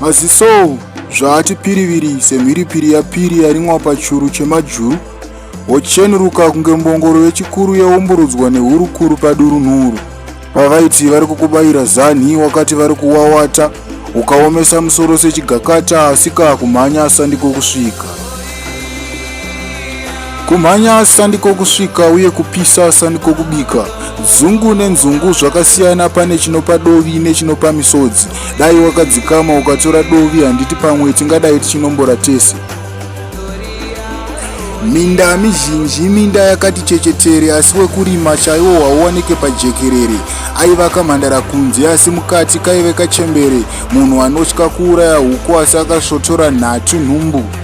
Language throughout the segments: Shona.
Maziso zvaati piriviri semhiripiri yapiri yarimwa pachuru chemajuru wochenuruka kunge mbongoro yechikuru yaumburudzwa nehurukuru padurunhuru pavaiti vari kukubaira zanhi wakati vari kuwawata ukaomesa musoro sechigakata asika kumhanya asandiko kusvika Kumhanya sandiko kusvika uye kupisa sandiko kubika. Zungu nenzungu zvakasiyana pane chinopa dovi nechinopa misodzi. Dai wakadzikama ukatora dovi handiti pamwe tingadai tichinombora tese. Minda mizhinji minda yakati chechetere asi wekurima chaiwo hauwanike pajekerere. Aiva kamhandara kunze asi mukati kaive kachembere munhu anotya kuuraya huku asi akasvotora nhatu nhumbu.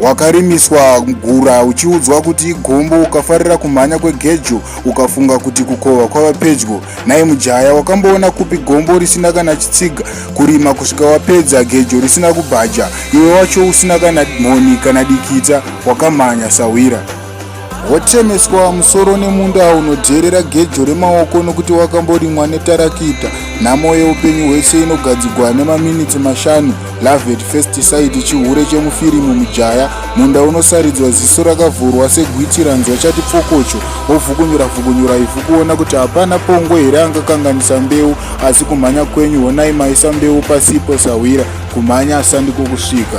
wakarimiswa gura uchiudzwa kuti igombo ukafarira kumhanya kwegejo ukafunga kuti kukova kwava pedyo naye mujaya wakamboona kupi gombo risina kana chitsiga kurima kusvika wapedza gejo risina kubhaja iwe wacho usina kana mhoni kana dikita wakamhanya sahwira Wotemeswa musoro nemunda unodherera gejo remaoko nokuti wakamborimwa netarakita. Nhamo yeupenyu hwese inogadzigwa nemaminitsi mashanu. Love at first sight chihure chemufirimu mujaya. Munda unosaridzwa ziso rakavhurwa segwiti ranzwa chati pfokocho. Wovhukunyura vhukunyura ivhu kuona kuti hapana pongo here angakanganisa mbeu. Asi kumhanya kwenyu honai maisa mbeu pasipo sahwira. Kumhanya sandiko kusvika.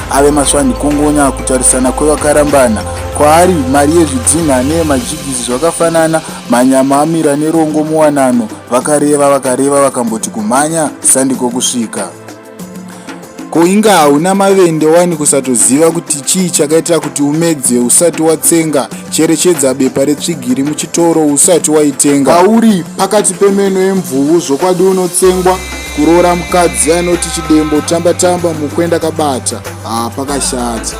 ave maswani kungonya kutarisana kwevakarambana kwaari mari yezvidzinha neyemajigisi zvakafanana manyama amira nerongo muwanano vakareva vakareva vakamboti kumhanya sandiko kusvika ko inge hauna mavende wani kusatoziva kuti chii chakaitira kuti umedze usati watsenga cherechedza bepa retsvigiri muchitoro usati waitenga pauri pakati pemeno yemvuvu zvokwadi unotsengwa kuroora mukadzi anoti chidembo tamba tamba mukwenda kabata haa pakashata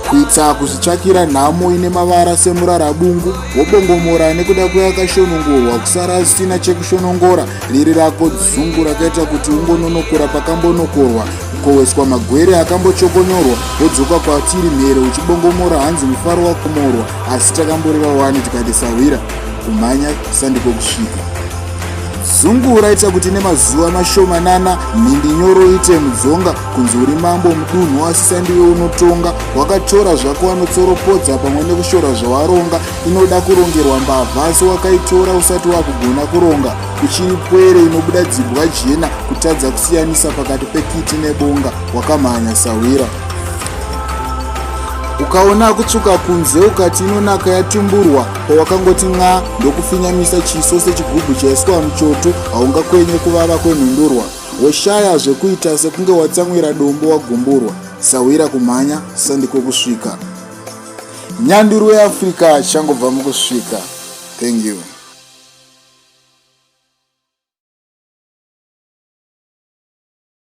kuitsa kuzvitsvakira nhamo ine mavara semurarabungu wobongomora nekuda kweyakashonongorwa kusara zvisina chekushonongora riri rako dzungu rakaita kuti ungononokora pakambonokorwa kukoweswa magwere akambochokonyorwa wodzoka kwatiri mhere uchibongomora hanzi mufaro wakumorwa asi takamboreva wani tikati sahwira kumhanya sandiko kusvika zungu raita kuti nemazuva mashomanana mhindi nyoro iite mudzonga kunzi uri mambo mudunhu asisandiwe unotonga wakatora zvako wanotsoropodza pamwe nekushora zvawaronga inoda kurongerwa mbavha asi wakaitora usati wakugona kuronga kuchiri pwere inobuda dzibwa jena kutadza kusiyanisa pakati pekiti nebonga wakamhanya sahwira ukaona kutsvuka kunze ukati inonaka yatumburwa pawakangoti nxa ndokufinyamisa chiso sechigubhu chaiswa muchoto haungakwenye kuvava kwenhundurwa woshaya zvekuita sekunge watsamwira dombo wagumburwa sahwira kumhanya sandiko kusvika nyanduru yeafrica changobva mukusvika thank you